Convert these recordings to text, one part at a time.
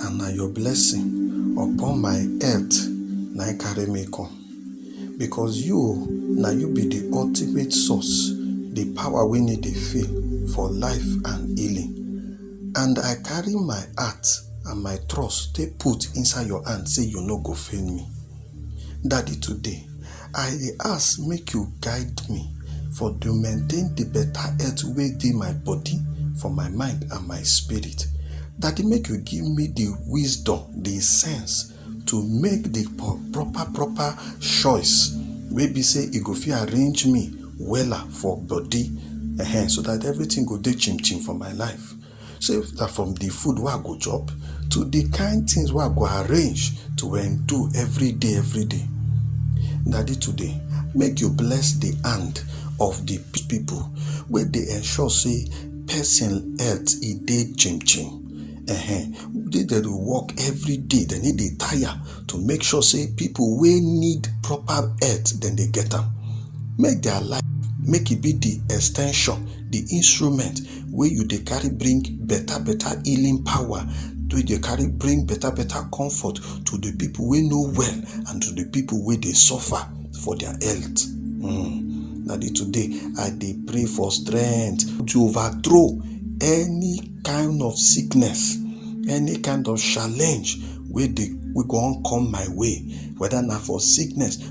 And na your blessing upon my head na I carry me come. Because you, na you be the ultimate source, the power wey need dey fail for life and healing. And I carry my heart and my trust take put inside your hand say you no go fail me. Daddy today, I dey ask make you guide me for to maintain the better health wey dey my body, for my mind and my spirit. Daddy make you give me the wisdom, the sense to make the proper proper choice wey be say e go fit arrange me wella for body um so that everything go dey chim chim for my life. So if na from the food wey I go chop to the kind things wey I go arrange to endure every day, every day. Daddy today, make you bless the hand of the people wey dey ensure say person health e dey chim chim. Ehen, make dem dey work every day, dem no dey tire to make sure say people wey need proper health dem dey get am. Make their life make e be the ex ten sion, the instrument. wey you dey carry bring better better healing power wey dey carry bring better better comfort to the people wey no well and to the people wey dey suffer for their health mm. na the today i dey pray for strength to overthrow any kind of sickness any kind of challenge wey dey we go on come my way whether na for sickness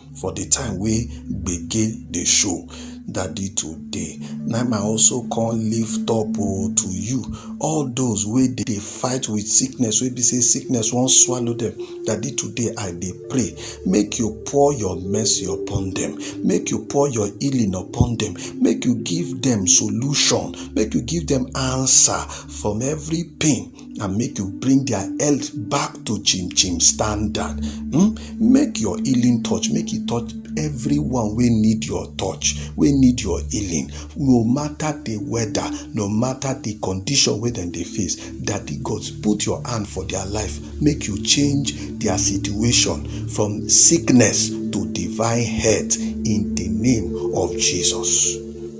for the time wey gbege dey show daddy today na im i also come lift up oh to you all those wey dey fight with sickness wey be say sickness wan swallow them daddy today i dey pray make you pour your mercy upon them make you pour your healing upon them make you give them solution make you give them answer from every pain and make you bring their health back to chim chim standard hmm? make your healing touch make e touch everyone wey need your touch wey need your healing no matter the weather no matter the condition wey dem dey face daddy god put your hand for their life make you change their situation from sickness to divine health in the name of jesus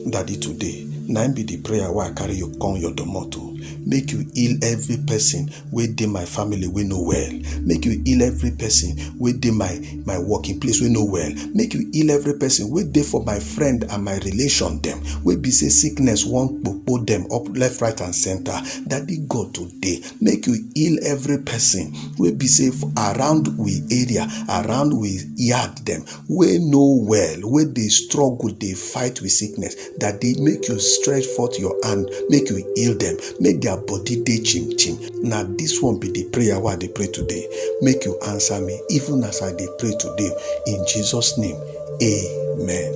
daddy today na be the prayer wey i carry you come your domot o make you heal every person wey dey my family wey no well make you heal every person wey dey my my working place wey no well make you heal every person wey dey for my friend and my relation dem wey be say sickness wan kpokpo dem up left right and center daddy god today make you heal every person wey be say for around we area around we yard dem wey no well wey dey struggle dey fight with sickness that day make you stretch forth your hand make you heal them make their body dey chim chim na this one be the prayer wey i dey pray today make you answer me even as i dey pray today in jesus name amen.